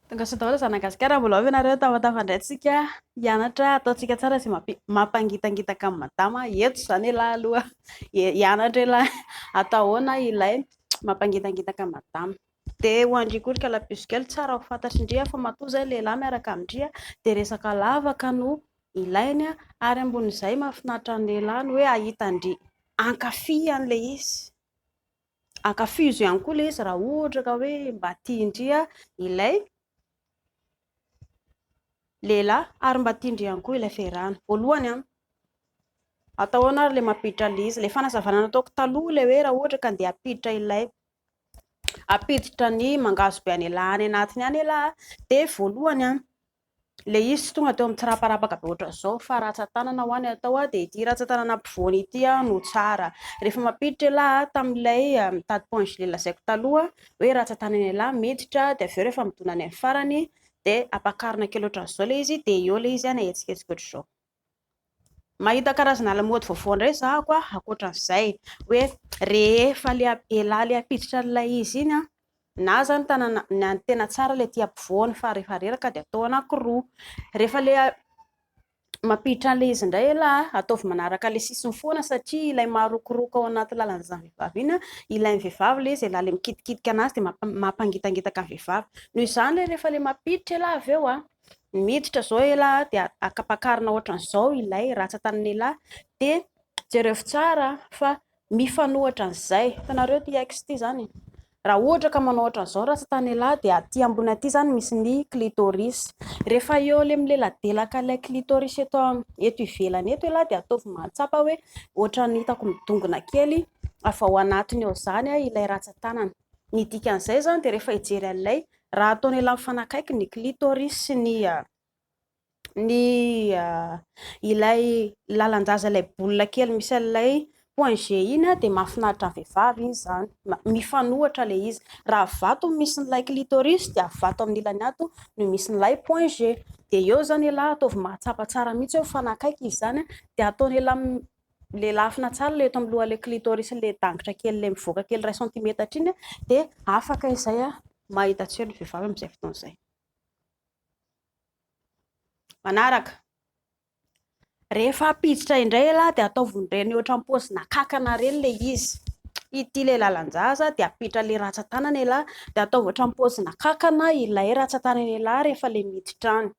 Tongasoa daholo zanaka gasikara mbola ao ve nareo tafatafan indray tsika hianatra ataontsika tsara sy mampangitangitaka amin'ny madama eto zany elah aloha hianatra elah atao ahoana ilay mampangitangitaka amin'ny madama dia ho andry koa ry kalabiso kely tsara ho fantatry ndry fa matoa zay lehilahy miaraka amindry dia resaka lavaka no ilainy ary ambony izay mahafinaritra ny lehilahy ny hoe hahita ndry hankafy an'ilay izy ankafizo ihany koa ilay izy raha ohatra ka hoe mba tian-dry ilay lehilahy ary mba tian-dry ihany koa ilay fehirano. Voalohany an, atao ahoana ary ilay mampiditra an'ilay izy? Ilay fanazavana nataoko taloha ilay hoe raha ohatra ka andeha hampiditra ilay hampiditra ny mangahazo be an'ialahy any anatiny any ialahy dia voalohany an, Ilay izy tsy tonga teo amin'ny tsiraparapaky be ohatran'izao fa ratsan-tanana ho'a ny atao dia ity ratsan-tanana ampovoany ity no tsara. Rehefa mampiditra ialahy tamin'ilay mitady point gelé lazaiko taloha hoe ratsan-tanana ialahy miditra dia avy eo rehefa midona any amin'ny farany dia ampakarina kely ohatran'izao ilay izy dia eo ilay izy na hetsiketsika ohatr'izao. Mahita karazana lamaody vaovao indray za ko a, ankoatran'izay hoe rehefa le elah le hampiditra an'ilay izy iny an, na za ny tanana na ny tena tsara le aty ampovoany fa rehefa reraka dia atao anankiroa, rehefa le mampiditra an'ilay izy indray elah an, ataovy manaraka le sisiny foana satria ilay marokoroko ao anaty lalan'izany vehivavy iny an, ilain'ny vehivavy le izy elah le mikitikitika an'azy dia mampangitangitaka ny vehivavy, noho izany le rehefa le mampiditra elah avy eo an. miditra zao elah dia akapakarina ohatran'izao ilay ratsan-tanan'elah de jereo tsara fa mifanohitra an'izay hitanareo ity ex ity zany e. raha ohatra ka manao ohatran'izao ratsan-tanan'elah dia aty ambony aty zany misy ny clitoris rehefa eo le mileladelaka ilay clitoris eto eto ivelany eto elah dia ataovy mahatsapa hoe ohatran'ny hitako midongona kely avy ao anatiny eo zany ilay ratsan-tanana ny dikan'izay zany dia rehefa hijery an'ilay Raha ataony ela mifanakaiky ny clitoris sy ny ny ilay lalan-jaza ilay boule kely misy an'ilay point G iny dia mahafinaritra ny vehivavy iny izany. Mifanohitra ilay izy. Raha vato no misy an'ilay clitoris dia vato amin'ny ilany ato no misy an'ilay point G. Dia eo izany ialahy ataovy mahatsapa tsara mihitsy hoe mifanakaiky izy izany dia ataony ela le lafina tsara le eto amin'ny loha le clitoris le dangitra kely le mivoaka kely iray centimetatra iny de afaka izay a mahita tsy ny vehivavy amin'izay fotoana izay manaraka rehefa apiditra indray la de ataovon'ireny ohatra am-pozina kakana ireny le izy ity le lalan-jaza de apiditra le ratsa-tanana la de ataovy ohatra am-pozina kakana ilay ratsa-tanana la rehefa le miditra any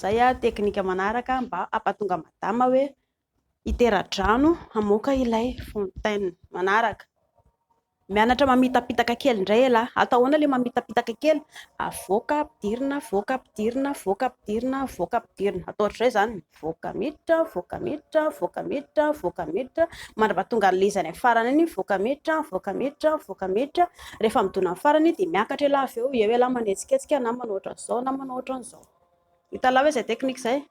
Zay ah teknika manaraka mba ampatonga madama hoe hitera-drano hamoaka ilay fontaine. Manaraka, mianatra mamitapitaka kely indray ialahy ah. Atao ahoana ilay mamitapitaka kely? Avoaka ampidirina, avoaka ampidirina, avoaka ampidirina, avoaka ampidirina. Atao ohatr'izay izany. voaka miditra, voaka miditra, voaka miditra, voaka miditra, mandra-paha tonga leza any amin'ny farany any, voaka miditra, voaka miditra, voaka miditra, rehefa midona amin'ny farany dia miakatra ialahy avy eo, eo ialahy manetsiketsika na manao ohatran'izao na manao ohatran'izao. Hitanao ve izay teknika izay?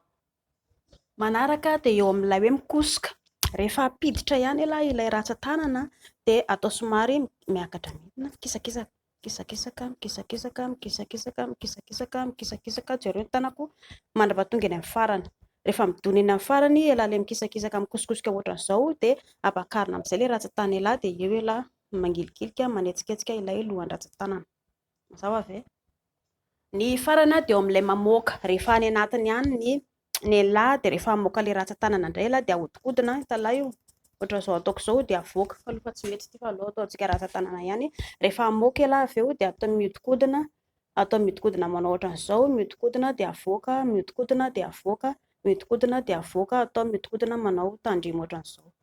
Manaraka dia eo amin'ilay hoe mikosoka, rehefa hampiditra ihany ialahy ilay ratsan-tanana dia atao somary miakatra midina, mikisakisaka. Mikisakisaka, mikisakisaka, mikisakisaka, mikisakisaka, mikisakisaka, jereo ny tanako mandrapa tonga eny amin'ny farany. Rehefa midona eny amin'ny farany elah ilay mikisakisaka mikosikosika ohatran'izao dia ampakarina amin'izay ilay ratsan-tany elah dia eo elah mangilikilika manetsiketsika ilay lohan-dratsan-tanana. Mazava ve? Ny farany dia eo amin'ilay mamoaka rehefa any anatiny any ny ny lehilahy dia rehefa hamoaka ilay ratsan-tanana indray ialahy dia ahodikodina ny talaho io, ohatra izao ataoko izao dia avoaka fa aloha tsy mety ity fa aleo ataontsika ratsan-tanana ihany, rehefa hamoaka ialahy avy eo dia ataony miodikodina, ataony miodikodina manao ohatran'izao, miodikodina dia avoaka, miodikodina dia avoaka, miodikodina dia avoaka, ataony miodikodina manao tandremo ohatran'izao.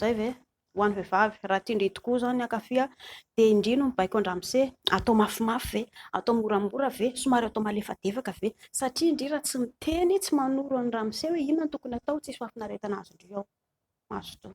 Zay ve? Ho an'ny vehivavy, raha tian-dry tokoa izao ny hankafy dia indry no mibaiko an-dramose, atao mafimafy ve, atao moramora ve, somary atao malefadefaka ve? Satria indry raha tsy miteny, tsy manoro an'i ramose hoe inona no tokony atao, tsisy fahafinaretana azon-dry ao. Mazotoa.